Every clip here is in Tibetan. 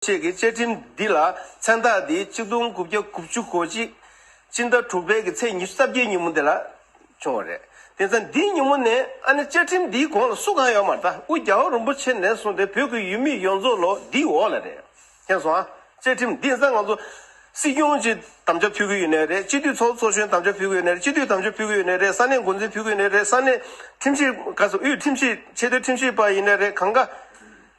བཅས་ཀྱི་བཅའ་ཁྲིམས་འདི་ལ་མཚན་རྟགས་འདི་གཅིག་སྟོང་དགུ་བརྒྱ་དགུ་བཅུ་གོ་གཅིག་སྤྱི་ཟླ་དྲུག་པའི་གི་ཚེས་ཉི་ཤུ་རྩ་བརྒྱད་ཉིན་མོ་འདི་ལ་བྱུང་བ་རེད། དེ་མཚམས་འདི་ཉིན་མོ་ནས་ཨ་ནི་བཅའ་ཁྲིམས་འདིའི་གོང་ལ་སུ་གང་ཡོད་མ་ལྟ་དབུས་རྒྱ་བ་རིན་པོ་ཆེ་ནས་བཟུང་སྟེ་བོད་ཀྱི་ཡུལ་མི་ཡོངས་རྫོགས་ལོ་འདིའི་འོག་ལ་རེད་མཁྱེན་སོང་ཨ། བཅའ་ཁྲིམས་འདི་ནི་ང་ཚོ་སྲིད་སྐྱོང་ཅིག་དམ་བཅའ་ཕུལ་གི་ཡོད་ནའི་རེད་སྤྱི་འཐུས་ཚོགས་གཙོ་གཞོན་དམ་བཅའ་ཕུལ་གི་ཡོད་ནའི་རེད་སྤྱི་འཐུས་དམ་བཅའ་ཕུལ་གི་ཡོད་ནའི་རེད་ས་གནས་འགོ་འཛིན་ཕུལ་གི་ཡོད་ནའི་རེད་ས་གནས་ཁྲིམས་ཞིབ་དབུས་ཁྲིམས་ཞིབ་ཆེས་མཐོའི་ཁྲིམས་ཞིབ་པ་ཡིན་ནའི་རེད་གང་དགའ།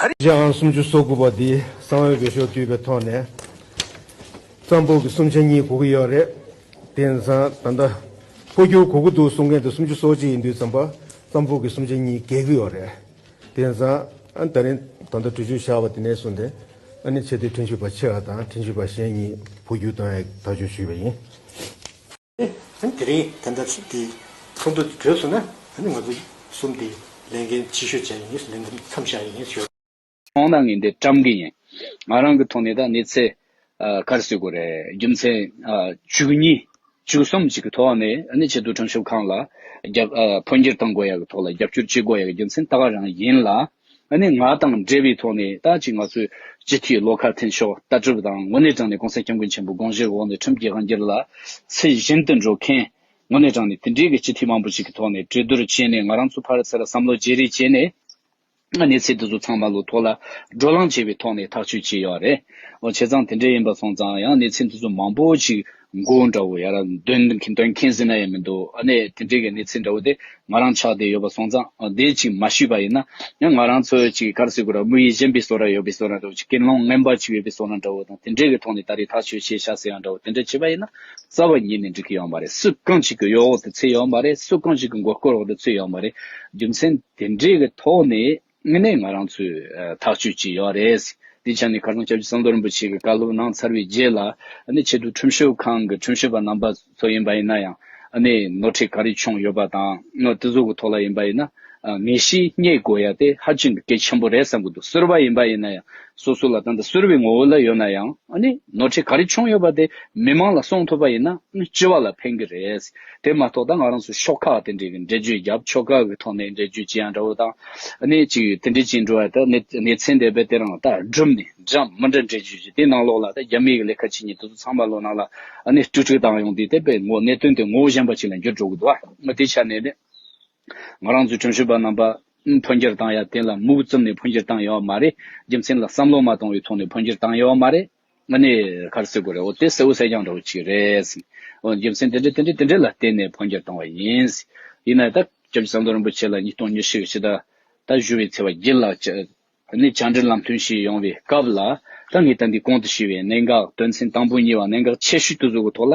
ག་རེ། རྗེ་ཨང་སུམ་ཅུ་སོ་དགུ་པ་འདི་གསང་བའི་འོས་ཤོག་བསྡུས་པའི་ཐོག་ནས་ཙམ་པོ་གི་གསུམ་ཆ་གཉིས་གོ་གི་ཡོད་རེད། དེ་ནས་བཟང་ད་ལྟ་འཕོ་འགྱུར་གོ་གི་འདུག་གསུང་མཁན་དེ་སུམ་ཅུ་སོ་གཅིག་ཡིན་དུས་ཙམ་པ་ཙམ་པོ་གི་གསུམ་ཆ་གཉིས་གས་གི་ཡོད་རེད། དེ་ནས་བཟང་ད་རིང་ད་ལྟ་དྲུག་ཅུ་བཞག་པ་དེ་ནས་བཟུང་སྟེ་ཨ་ནི་ཆེ་དེ་ཁྲིན་ཞུ་བ་ཆེ་བ་དང་ཁྲིན་ཞུ་བ་གཞན་གཉིས་འཕོ་འགྱུར་གཏོང་ཡག་ཐག་གཅོད་ཞུས་པ་ཡིན། ཨ་དེ་རིང་དེ་འདྲ་ཚུགས་དེ་ཚོགས་འདུ་དེ་གྲོལ་སོང་ན་ཨ་ནི་ང་ཚོ་གསུམ་དེ་ལས་འགན་ཆེ་ཤོས་བྱ་ཡི་ཡིན་ལས་འགན་མཚམས་བཞག་ཡི་ཡིན་ཞོར། ཚོང་ལྟ་ངན་དེ་བཀྲམ་གི་ཡིན། ང་རང་གི་ཐོག་ནས་ད་ནི་ཚེ་གར་སོས་དགོས་རེད་རྒྱུ་མཚན་བཅུ་གཉིས་བཅུ་གསུམ་བཅས་ཀྱི་ཐོག་ནས་ཨ་ནི་ཆེད་དུ་ཁྲོམ་ཤོབ་ཁང་ལ་འཕོ་འགྱུར་བཏང་དགོས་ཡག་གི་ཐོག་ལ་རྒྱབ་སྐྱོར་བྱེད་དགོས་ཡག་རྒྱུ་མཚན་ལྟ་ག་རང་ཡིན་ལ། ཨ་ནེ་ང་དང་འབྲེལ་བའི་ཐོག་ནས་ད་ཅི་ང་ཚོས་སྤྱི་འཐུས་བློ་ཁ་འཐེན་ཤོག་ལྟ་གྲུབ་དང་དངོས་གནས་དྲང་ནས་གོང་ས་སྐྱབས་མགོན་ཆེན་པོ་དགོངས་བཞེས་འོག་ནས་ཁྲིམས་ཀྱི་དབང་སྒྱུར་ལ་ཚད་གཞན་དུ་འགྲོ་མཁན་དངོས་གནས་དྲང་ནས་དེ་འབྲེལ་གྱི་སྤྱི་འཐུས་མང་པོ་ཞིག་གི་ཐོག་ནས་གྲོས་བསྡུར་བྱས་ནས་ང་རང་ཚོ་ཕར་ཚད་ལ་བསམ་བློ་བརྗེ་རེས་བྱས་ནས་གནས་ཚད་འདི་ཚོ་ཚང་མ་ལོ་ཐོག་ལ་བགྲོ་གླང་བྱས་པའི་ཐོག་ནས་ཐག་གཅོད་བྱས་ཡོད་རེད་འོ་བྱས་ཙང་དེ་འདྲས་ཡིན་པ་སོང་ཙང་ཡང་གནས་ཚད་འདི་ཚོ་མང་པོ་ཞིག། མགོ་བོ་འདྲ་བོ་ཡར་འདོན་མཁན་ཟིན་ན་ཡང་མི་འདུག་ཨ་ནེ་དེ་འདྲའི་གནས་ཚུལ་འདྲ་བོ་དེ་ང་རང་ཆགས་བསྡད་ཡོད་པ་སོང་ཙང་དེ་ཅིག་མ་ཞུས་པ་ཡིན་ན་ཡང་ང་རང་ཚོ་ཅིག་གར་སི་ཀུ་ར་དམུ་ཡི་གཞན་པའི་སོ་ར་ཡོད་པའི་སོ་ར་འདྲ་བོ་ཅིག་ཀེར་སློང་རྔན་པ་ཅིག་ཡོད་པའི་སོ་ར་འདྲ་བོ་དང་དེ་འདྲའི་གི་ཐོག་ནས་ད་རེས་ཐག་ཆོད་བྱས་ཤག་ཟེར་ཡང་འདྲ་བོ་དེ་འདྲ་བྱས་པ་ཡིན་ན་རྩ་བ་ཉིད་ནས་འགྲིག་གི་ཡོང་བ་རེད་སུ་གང་ཅིག་གི་གཡོ་འོག་ཏུ་ཚུད་ཡོང་བ་རེད་སུ་གང་ཅིག་གི་མགོ་སྐོར་འོག་ཏུ་ཚུད་ཡོང་བ་རེད་རྒྱུ་མཚན་དེ་འདྲའི་གི་ཐོག་ནས། དངོས་གནས་ང་རང་ཚོས་ཐག་གཅོད་ཀྱི་ཡོད་རེད། དེའི་ཆ་ནས་ཁ་སང་ཆབ་སྲིད་གསང་རྡོར་རིན་པོ་ཆེ་གི་བཀའ་སློབ་གནང་ཚར་བའི་རྗེས་ལ། ནི་ཆེད་དུ་ཁྲིམས་ཞིབ་ཁང་གི་ཁྲིམས་ཞིབ་པ་རྣམ་པ་ཚོ་ཡིན་པ་ཡིན་ན་ཡང། ནི་ནོར་འཁྲིད་ག་རེ་བྱུང་ཡོད་པ་དང་ནི་དེ་ཚོ་གི་ཐོག་ལ་ཡིན་པ་ཡིན་ན། ངེས་གཤིས་རྙེད་དགོས་ཡ་དེ་ཧ་ཅིང་གི་གལ་ཆེན་པོ་རེད་བསམ་གི་འདུག་གསོལ་བ་ཡིན་པ་ཡིན་ན་ཡང་སོ་སོ་ལ་ད་ལྟ་གསོལ་བའི་ངོ་བོ་ལ་ཡོད་ན་ཡང། ནི་ནོར་འཁྲིད་ག་རེ་བྱུང་ཡོད་པ་དེ་མི་མང་ལ་གསུང་ཐུབ་པ་ཡིན་ན་ནི་སྤྱི་བ་ལ་ཕན་གི་རེད། དེ་མ་གཏོགས་ད་ང་རང་ཚོ་ཤོག་ཁག་དེ་འདྲའི་གི་འགྲེལ་བརྗོད་རྒྱབ་ཆོ་ག་གི་ཐོག་ནས་འགྲེལ་བརྗོད་ཅི་ཡང་འདྲ་བོ་དང་གནད་ཅིག་ཡོད་དེ་འདྲའི་ཅི་འགྲོ་བ་ད་གནད་གནད་ཚན་དེ་བས་དེ་རང་ད་སྒྲུབ་ནས་འདྲམ་མི་འདྲ་འགྲེལ་བརྗོད་ཅི་དེ་ནང་ལོགས་ལ་ད་རྒྱ་མིའི་གི་ལས་ཁ་ཅི་ཉིད་དེ་ཚོ་ཚང་མ་ལོ་ནང་ལ་གནད་བཀྲུ་བཀྲུ་བཏང་ཡོང་དེ་དེ་བས་ངོ་གནད་དོན་དེ་ངོ་བོ་གཞན་པ་ཅིག་ལ་འགྱུར་འགྲོ་གི་འདུག་ང་དེ་ཆ་ནས་ནི་ང་རང་ཚོའི་དྲུང་ཞུ་བ་རྣམ་པ་འཕོ་འགྱུར་བཏང་ཡ་དེ་ལ་མུག་བཙུམ་ནས་འཕོ་འགྱུར་བཏང་ཡོང་བ་མ་རེད་རྒྱུ་མཚན་ལ་བསམ་བློ་མ་གཏོང་བའི་ཐོག་ནས་འཕོ་འགྱུར་བཏང་ཡོང་བ་མ་རེད། ང་ནི་ཁར་སེ་གོ་རེད་འོ་དེ་སེའུ་སེ་རྐྱང་འདྲ་བོ་ཅིག་རེད། འོ་རྒྱུ་མཚན་དེ་འདྲ་དེ་འདྲ་དེ་འདྲ་ལ་བརྟེན་ནས་འཕོ་འགྱུར་བཏང་བ་ཡིན། ཡིན་ནའི་ད་སྐབས་ཀྱི་ཟམ་གདོང་རིན་པོ་ཆེ་ལ་ཉིས་སྟོང་ཉེར་བཞི་གི་ཕྱི་ཟླ་ད་བཞུ་བའི་ཚེ་བ་རྒྱལ་ལགས་ཀྱི་ནི་བྱང་འདྲེན་ལམ་སྟོན་ཞིག་ཡོང་བའི་སྐབས་ལ་ད་ངས་ད་འདི་གོང་དུ་ཞུས་བའི་གནད་འགག་དོན་ཚན་དང་པོ་གཉིས་བ་གནད་འགག་ཆེ་ཤོས་དུ་བཟོ་དགོས་ཐོག་ལ།